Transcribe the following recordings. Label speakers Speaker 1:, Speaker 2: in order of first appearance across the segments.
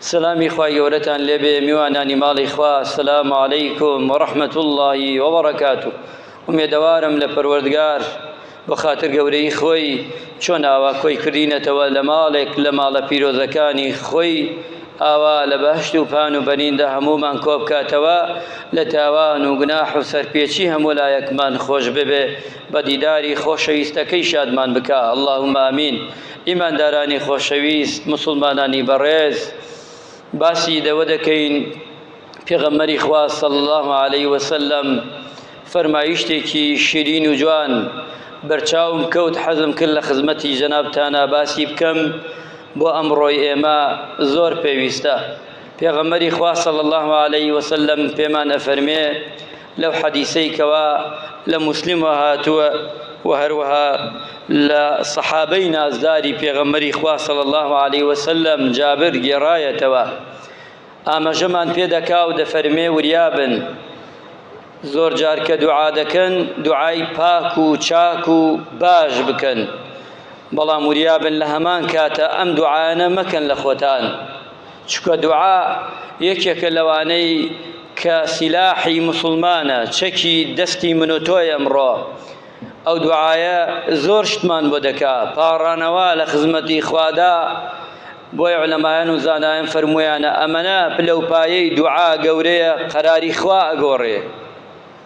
Speaker 1: سلامی خوای گەورەتان لێبێ میوانانی ماڵی خوا سلام علیکم و رحمت اللهی و بەڕکاتو ئومێدەوارم لە پەروەردگار بۆ خاتر گەورەی خۆی چۆن ئاوا کۆی کردینەتەوە لە ماڵێک لە ماڵە پیرۆزەکانی خۆی ئاوا لە بەهشت و پان و بەنیندا هەمومان کۆبکاتەوە لە تاوان و گناح و سەرپێچی هەموو لایەکمان خۆش ببێ بە دیداری خۆشەویستەکەی شادمان بکە اللهم امین ئیماندارانی خۆشەویست، موسڵمانانی بەڕێز، باسی لەوە دەکەین پێغەمبەری خوا صلی اللە علیە وسلم فەرمایشتێکی شیرین و جوان بەرچاوم کەوت حەزم کرد لە خزمەتی جەنابتانا باسی بکەم بۆ ئەمڕۆی ئێمە زۆر پێویستە پێغەمبەری خوا صلی اللە علیە وسلم پێمان ئەفەرمێ لەو حەدیسەی کەوا لە موسلمەوە هاتووە و هەروەها لە سەحابەی نازداری پێغەمبەری خوا صلی الله علیه وسلم جابر گێڕایەتەوە ئامەژەمان پێ دەکا و دەفەرمێ وریابن زۆر جار کە دوعا دەکەن دوعای پاک و چاک و باش بکەن بەڵام وریابن لە هەمان کاتە ئەم دوعاانە مەکەن لە خۆتان چونکە دوعا یەکێکە لەوانەی کە سیلاحی موسڵمانە، چەکی دەستی من و تۆی ئەمڕۆ. ئەو دوعایە زۆر شتمان بۆ دەکا، پاڕانەوە لە خزمەتی خوادا، بۆیە عولەمایان و زانایان فەرموویانە ئەمەنە پلەوپایەی دوعا گەورەیە قەراری خوا ئەگۆڕێ.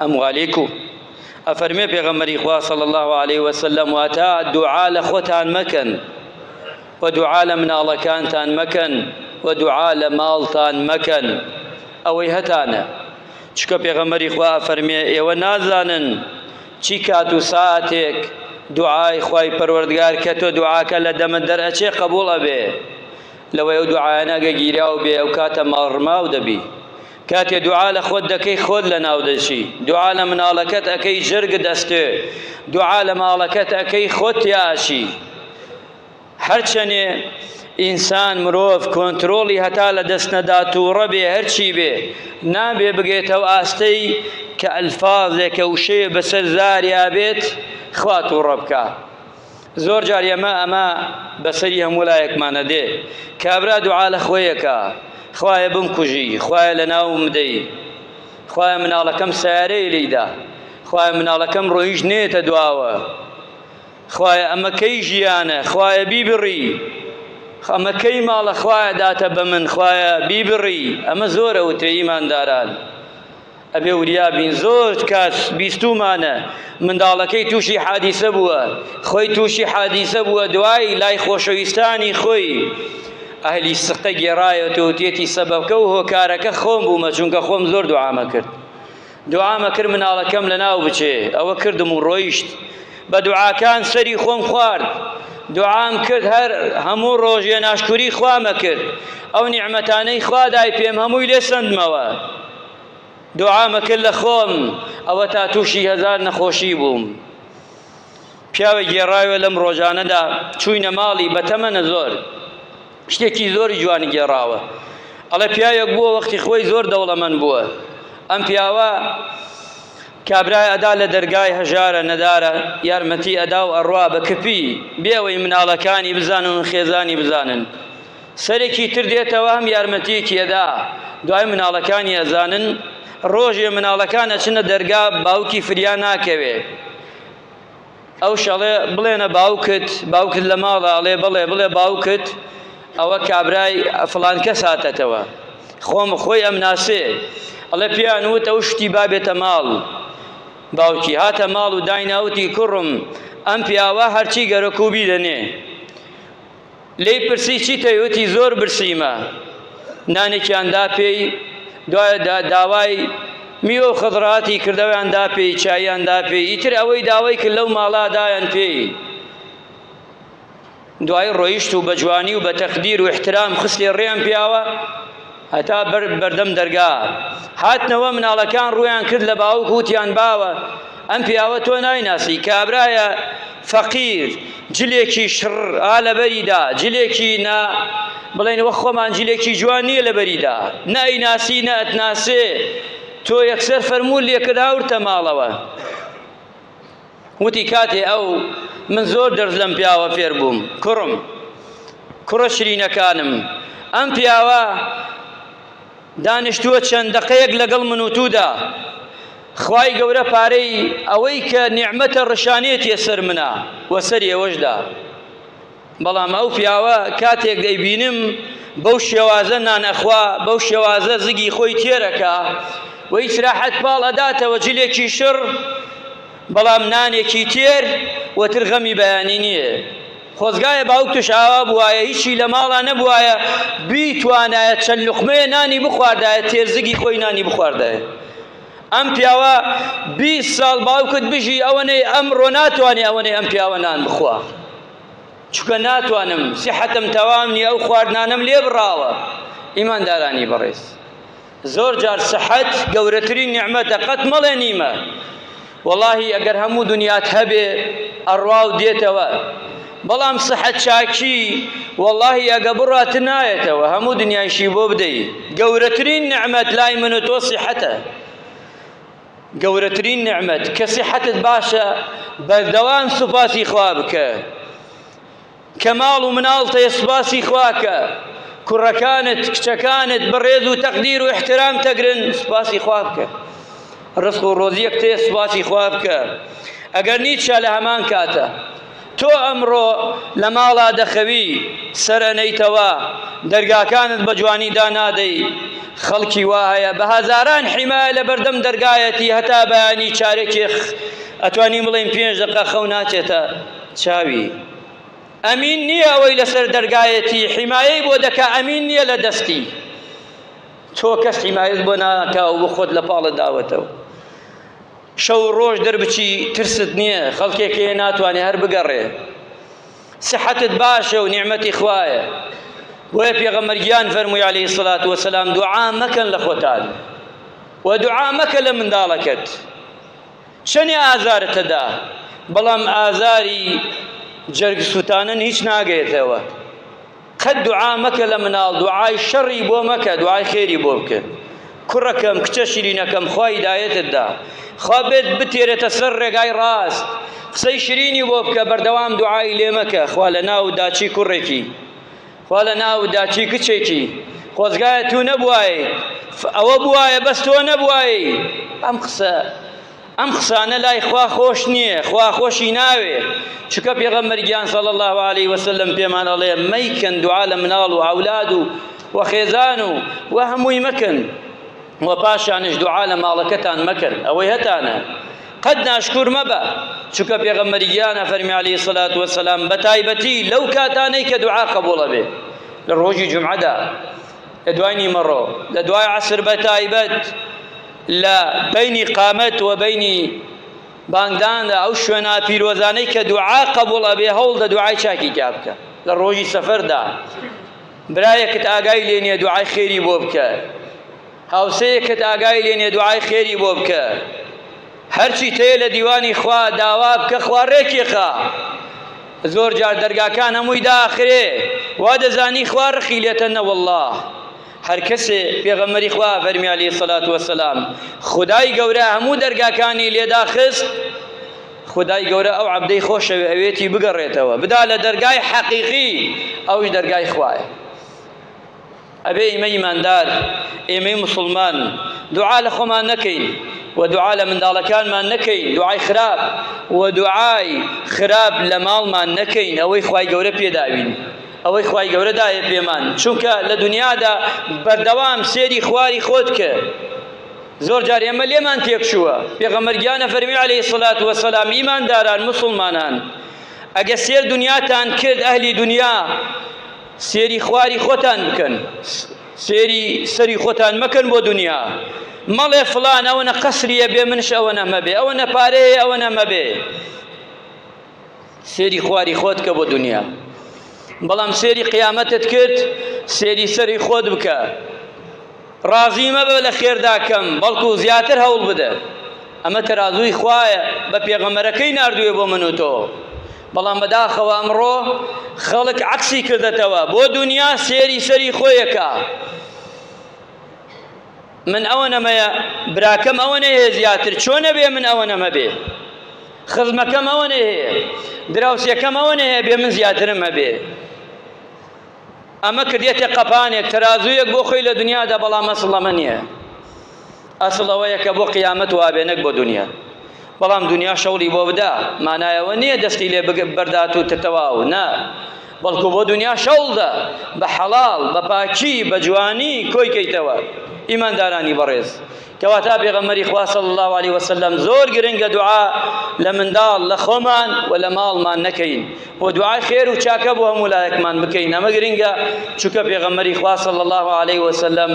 Speaker 1: ئەم غالی کو؟ ئەفەرمێ پێغەمبەری خوا صلی اللە علیە وسلم واتا دوعا لە خۆتان مەکەن و دوعا لە مناڵەکانتان مەکەن و دوعا لە ماڵتان مەکەن ئەوەی هەتانە چکە پێغەمبەری خوا ئەفەرمێ ئێوە نازانن چی کات و ساعتێک دوعای خوای پەروەردگار کە تۆ دوعاکە لە دەمە دەرئەچێ قبول ئەبێ لەوەی ئەو دوعایانە گە گیراو بێ ئەو کاتە ماڵڕماو دەبی کاتێ دوعا لە خۆت دەکەی خۆت لە ناو دەچی دوعا لە مناڵەکەت ئەکەی جرگ دەستێ دوعا لە ماڵەکەت ئەکەی خۆت تیا ئەچی هەرچەنێ ئینسان مرۆڤ کۆنتترۆڵی هەتا لە دەست نەدا تووڕە بێ هەرچی بێ نابێ بگێتەوە ئاستەی کە ئەلفاازێکە وشەیە بەسەر زاریا بێت خوا تووڕە بکە زۆر جار ئێمە ئەمە بەسەری هەموو لایەکمانە دێ، کابرا دوعا لە خۆی ئەکا، خوایە بمکوژی، خوایە لەناوم بدەی، خوایە مناڵەکەم سەیارەیە لێی دا، خوایە مناڵەکەم ڕۆیشت نەیەتە دواوە، خوایە ئەمە کەی ژیانە، خوایە بیبڕی، ئەمە کەی ماڵە خوایە داتە بە من، خوایە بیبڕی، ئەمە زۆر ئەوترێ ئیمانداران ئەبێ وریا بین زۆر کات بیستومانە منداڵەکەی تووشی حادیسە بووە خۆی تووشی حادیسە بووە دوای لای خۆشەویستانی خۆی ئەهلی سقە گێڕایەت و تێتی سەبەکە و هۆکارەکە خۆم بوومە چونکە خۆم زۆر دوعامە کرد دوعامە کرد مناڵەکەم لە ناو بچێ ئەوە کردم و ڕۆیشت بە دوعاکان سەری خۆم خوارد دوعام کرد هەر هەموو ڕۆژێ ناشکوری خوامە کرد ئەو نیعممەتانەی خوادای پێم هەمووی لێ سندمەوە دوعام کرد لە خۆم ئەوەتا تووشی هەزار نەخۆشی بووم پیاوە گێڕاوە لەم ڕۆژانەدا چوینە ماڵی بەتەمەنە زۆر شتێکی زۆری جوانی گێڕاوە ئەڵە پیاوێک بووە وەختی خۆی زۆر دەوڵەمەند بووە ئەم پیاوە کابرای ئەدا لە دەرگای هەژارە نەدارە یارمەتی ئەدا و ئەڕوا بە کپی بێەوەی مناڵەکانی بزانن و خێزانی بزانن سەرێکی تر دێتەوە هەم یارمەتیەکی ئەدا دوای مناڵەکانی ئەزانن ڕۆژێ مناڵەکان ئەچنە دەرگا باوکی فریا ناکەوێ ئەو شەڵێ بڵێنە باوکت باوکت لە ماڵە ئەڵێ بڵێ بڵێ باوکت ئەوە کابرای فلان کەس هاتەتەوە خۆم خۆی ئەم ناسێ ئەڵێ پێیان وت ئەو شتی بابێتە ماڵ باوکی هاتە ماڵ و دایناوتی کوڕم ئەم پیاوە هەرچی گەرەکوبی دەنێ لێی پرسی چیتەوێ؟ وتی زۆر برسیمە. نانێکیان دا پێی، دوای دا داوای میوە و خەزڕاتی کرد، ئەویان دا پێی، چاییان دا پێی، ئیتر ئەوەی داوای کرد لەو ماڵا دایان پێی. دوایی ڕۆیشت و بە جوانی و بە تەقدیر و ئیحترام خستێ ڕێیان پیاوە، هەتا بەر بەردەم دەرگا هاتنەوە مناڵەکان ڕویان کرد لە باوک وتیان باوە ئەم پیاوە تۆ نایناسی کابرایە فەقیر جلێکی شڕ ئا لەبەریدا جلێکی نا بڵێن وە خۆمان جلێکی جوان نییە لەبەریدا نایناسی نەتناسێ تۆ یەکسەر فەرموو لێکرد هاورتە ماڵەوە وتی کاتێ ئەو من زۆر دەرز لەم پیاوە فێر بووم کوڕم کوڕە شرینەکانم ئەم پیاوە دانیشتووە چەند دەقەیەک لەگەڵ من و توودا خوای گەورە پارەی ئەوەی کە نیعممەتە ڕشانێتیە سەر منە وەسەر ئێوەشدا بەڵام ئەو پیاوە کاتێک دەیبینم بەو شێوازە نان ئەخوا، بەو شێوازە زگی خۆی تێر ئەکا و هیچ راحەت پاڵ ئەداتەوە، جلێکی شڕ بەڵام نانێکی تێر و تر غەمی بەیانی نییە. خۆزگایە باوکتش ئاوا بووایە، هیچی لە ماڵا نەبووایە، بیتوانایە چەند لوقمەیە نانی بخواردایە، تێر زگی خۆی نانی بخواردایە. ئەم پیاوە بیست ساڵ باوکت بژی ئەوەنەی ئەمڕۆ ناتوانێ ئەوەنەی ئەم پیاوە نان بخوا چکە ناتوانم سیحەتم تەوام نیە ئەو خواردنانم لێ بڕاوە ئیماندارانی بەڕێز زۆر جار سەحەت گەورەترین نیعمەتە قەت مەڵێ نیمە وەڵاهی ئەگەر هەموو دنیات هەبێ ئەڕوا و دێتەوە بەڵام سەحە چاکی وەڵاهی ئەگە بڕات نایەتەوە هەموو دنیایشی بۆ بدەی گەورەترین نعمەت لای من و تۆ سیحەتە گەورەترین نعمەت کە سیحەتت باشە بەردەوام سوپاسی خوا بکە کە ماڵ و مناڵتەیە سوپاسی خواکە کوڕەکانت کچەکانت بەڕێز و تەقدیر و احترام تەگرن سوپاسی خوا بکە ڕسق و ڕۆزیەک تێ سوپاسی خوا بکە ئەگەر نیچە لە هەمان کاتە تۆ ئەمڕۆ لە ماڵا دەخەوی سەر ئەنەیتەوە، دەرگاکانت بە جوانی دانادەی، خەڵکی وا هەیە بە هەزاران حیمایە لە بەردەم دەرگایەتی هەتا بەیانی چارەکێ خ ئەتوانین بڵێین پێنج دەقە خەو ناچێتە چاوی. ئەمین نییە ئەوەی لەسەر دەرگایەتی حیمایەی بۆ دەکا ئەمین نییە لە دەستی تۆ کەس حیمایەت بۆ ناکا و خۆت لە پاڵت داوەتەوە. شەو و ڕۆژ دەربچی ترست نیە خەڵکێک هەیە ناتوانێ هەر بگەڕێ سحەتت باشە و نیعمەتی خوایە بۆیە پێغەمبەر گیان فەرمووی عەلەیهی سڵات وەسەلام دوعا مەکەن لە خۆتان و دوعا مەکە لە منداڵەکەت چەنێ ئازارت هەدا بەڵام ئازاری جەرگ سووتانن هیچ ناگەێتەوە قەت دوعا مەکە لە مناڵ دوعای شەڕی بۆ مەکە دوعای خێری بۆ بکە کوڕەکەم کچە شیرینەکەم خوا هیدایەتت دا خوا بێت بتێرێتە سەر ڕێگای ڕاست قسەی شیرینی بۆ بکە بەردەوام دوعای لێ مەکە خوا لە ناو داچی کوڕێکی خوا لە ناو داچی کچێکی خۆزگایە تو نەبوایە ئەوە بوایە بەس تۆ نەبوایە ئەم قسە ئەم قسانە لای خوا خۆش نییە، خوا خۆشی ناوێ، چونکە پێغەمبەر گیان صلی الله علیه وسلم پێمان ئەڵێ مەیکەن دوعا لە مناڵ و ئەولاد و و خێزان و و هەمووی مەکەن و پاشانش دوعا لە ماڵەکەتان مەکەن ئەوەی هەتانە قەت ناشکور مەبە چونکە پێغەمبەری گیان ئەفەرمی عەلەیهی سەلات وەسەلام بە تایبەتی لەو کاتانەی کە دوعا قبوڵە بێ لە ڕۆژی جمعەدا لە دوای نیمەڕۆ لە دوای عەسر بە تایبەت لە بینی قامەت و بینی بانگداندا ئەو شوێنە پیرۆزانەی کە دوعا قبول ئەبێ هەوڵ دە دوعای چاکی تیا بکە لە ڕۆژی سەفەردا برایەکت ئاگای لێ نیە دوعای خێری بۆ بکە هاوسەیەکت ئاگای لێ نیە دوعای خێری بۆ بکە هەرچیت هەیە لە دیوانی خوا داوا بکە خوا ڕێکیخا زۆر جار دەرگاکان هەمووی داخرێ وا دەزانی خوا ڕقی لێتە نەوەڵڵا هەر کەسێ پێغەمبەری خوا فەرمی عەلەیهی سەڵات وەسەلام خودای گەورە هەموو دەرگاکانی لێداخست خودای گەورە ئەو عەبدەی خۆشەوێ ئەوێتی بگەڕێتەوە بدا لە دەرگای حەقیقی ئەوش دەرگای خوایە ئەبێ ئیمە ئیماندار، ئێمەی موسڵمان دوعا لە خۆمان نەکەین و دوعا لە منداڵەکانمان نەکەین دوعای خراپ و دوعای خراپ لە ماڵمان نەکەین ئەوەی خوای گەورە پێداوین ئەوەی خوای گەورە دایە پێمان چونکە لە دنیادا بەردەوام سێری خواری خۆت کە زۆر جار ئێمە لێمان تێکچووە پێغەمبەر گیانە فەرمی عەلەیهی سەلات وەسەلام ئیمانداران مسلمانان ئەگە سێر دنیاتان کرد ئەهلی دنیا سێری خواری خۆتان بکەن سێری سەری خۆتان مەکەن بۆ دنیا مەڵێ فلان ئەوەنە قەسریە بێ منش ئەوەنە مەبێ ئەوەنە پارەیە ئەوەنە مەبێ سێری خواری خۆت کە بۆ دنیا بەڵام سێری قیامەتت کرد سێری سەری خۆت بکە ڕازی مەبە لە خێرداکەم بەڵکو زیاتر هەوڵ بدە ئەمە تەرازووی خوایە بە پێغەمەرەکەی نردوێ بۆ من و تۆ بەڵام بەداخەوە ئەمڕۆ خەڵک عەکسی کردەتەوە بۆ دنیا سێری سەری خۆیەکە من ئەوە نەمەیە براکەم ئەوە نەیە زیاتر چۆن نەبێ من ئەوە نەمە بێ خزمەکەم ئەوە نەیە دراوسەکەم ئەوە نەیە بێ من زیاترم هەبێ ئەمە کردیەتە قەپانێک تەرازوویەک بۆ خۆی لە دنیادا بەڵام ئەسڵ ئەمە نییە ئەسڵ ئەوەیە کە بۆ قیامەت وابێ نەک بۆ دنیا بەڵام دنیا شەوڵی بۆ بدا مانایەوە نییە دەستی لێ بەردات و تەواو نا بەڵکو بۆ دنیا شەوڵدا بە حەڵاڵ بە پاکی بە جوانی کۆی کەیتەوە ئیماندارانی بەڕێز کەواتە پێغەمبەری خوا صلی اللە علیە وسلم زۆر گرنگە دوعا لە منداڵ لە خۆمان و لە ماڵمان نەکەین و دوعای خێر و چاکە بۆ هەموو لایەکمان بکەین ئەمە گرنگە چونکە پێغەمبەری خوا صلی اللە علیه وسلم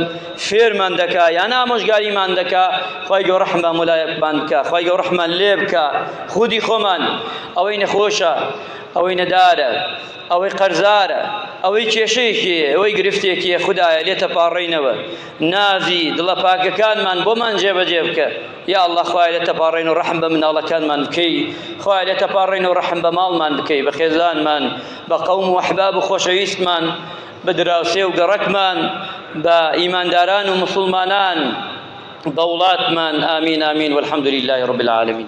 Speaker 1: فێرمان دەکا یان ئامۆژگاریمان دەکا خوای گەورە ڕەحم بە هەموو لایەکمان بکا خوای گەورە ڕەحمان لێ بکا خودی خۆمان ئەوەی نەخۆشە ئەوەی نەدارە ئەوەی قەرزارە ئەوەی کێشەیەکی ئەوەی گرفتێکی خدایە لێتە پاڕێنەوە نازی دڵە پاکەکانمان بۆمان جێبەجێ بکە یا الله خوای لە تەپاڕێن و ڕحم بە مناڵەکانمان بکەی خوای لە تەپاڕێن و ڕحم بە ماڵمان بکەی بە خێزانمان بە قەوم و حباب و خۆشەویستمان بە دراوسێ و گەڕەکمان بە ئیمانداران و مسلمانان بە وڵاتمان ئامین ئامین والحمد لله رب العالمین